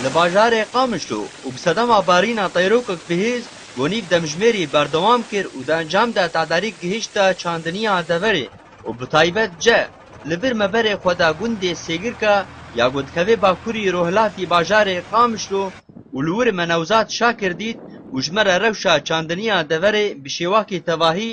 Li bajarê Qamişlo û bi sedema barîna teyrokek bihêz gonîv demjimêrî berdewam kir û di encam de tedarîk gihişte çandiniya deverê û bi taybet ce li vir meberê xwe de gundê Sêgirka ya ku dikeve bakurî rojhilatî bajarê Qamişlo û li wir me Newzad Şakir dît û ji me re rewşa çandiniya deverê bi şêwakî tevahî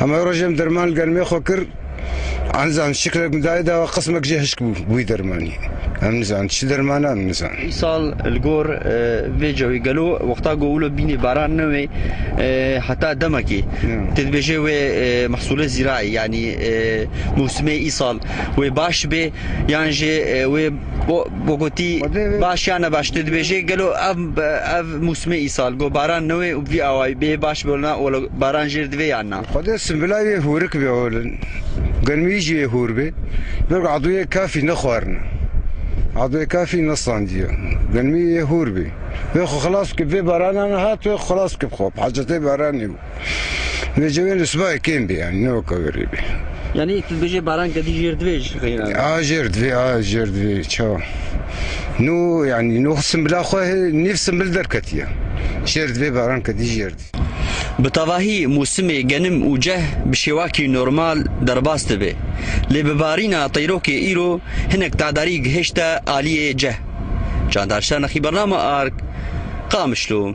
Hemû rojên derman li gel me xwe kir. Anizan şiklek min dayê dawa qismek jî hişk bû wî dermanî. Em nizan çi derman em nizan. Îsal li gor vê cewê gelo wexta ku wilo bînê baran ne wê heta demekê. Tu dibêjê wê mehsûlê zîrayî yanî mûsimê îsal wê baş bê yan jî wê Go gotî baş ya ne baş tu dibêjê gelo ev ev mûsimê îsal go baran newê û vî awayî bê baş bi na welo baran jêr divê yan na. Xwedê simbilayî wê hûrik bê holin germî jî wê hûr bê bê ku adûyê kafî nexwarine adûyê kafî nestandiye germî wê hûr bê wê xwe xilas bikî vê barana hat wê xwe xilas bikî bi xwe bi hecetê baranê bû. Nêcewên li sibahê kêm bê yanî ne weke werê bê. Yanî tu dibêjê baran kedî jêr divê ji xeyran. A jêr divê a jêr divê çawa. Nû yanî nû simbila xwe nîv simbil derketiye. Jêr divê baran kedî jêr divê. Bi tevahî mûsimê genim û ceh bi şêwakî normal derbas dibê. Lê bi barîna teyrokê îro hinek tadarî gihêşte aliyê ceh. Çandar Şernexî Bername Arg, Qamişlo.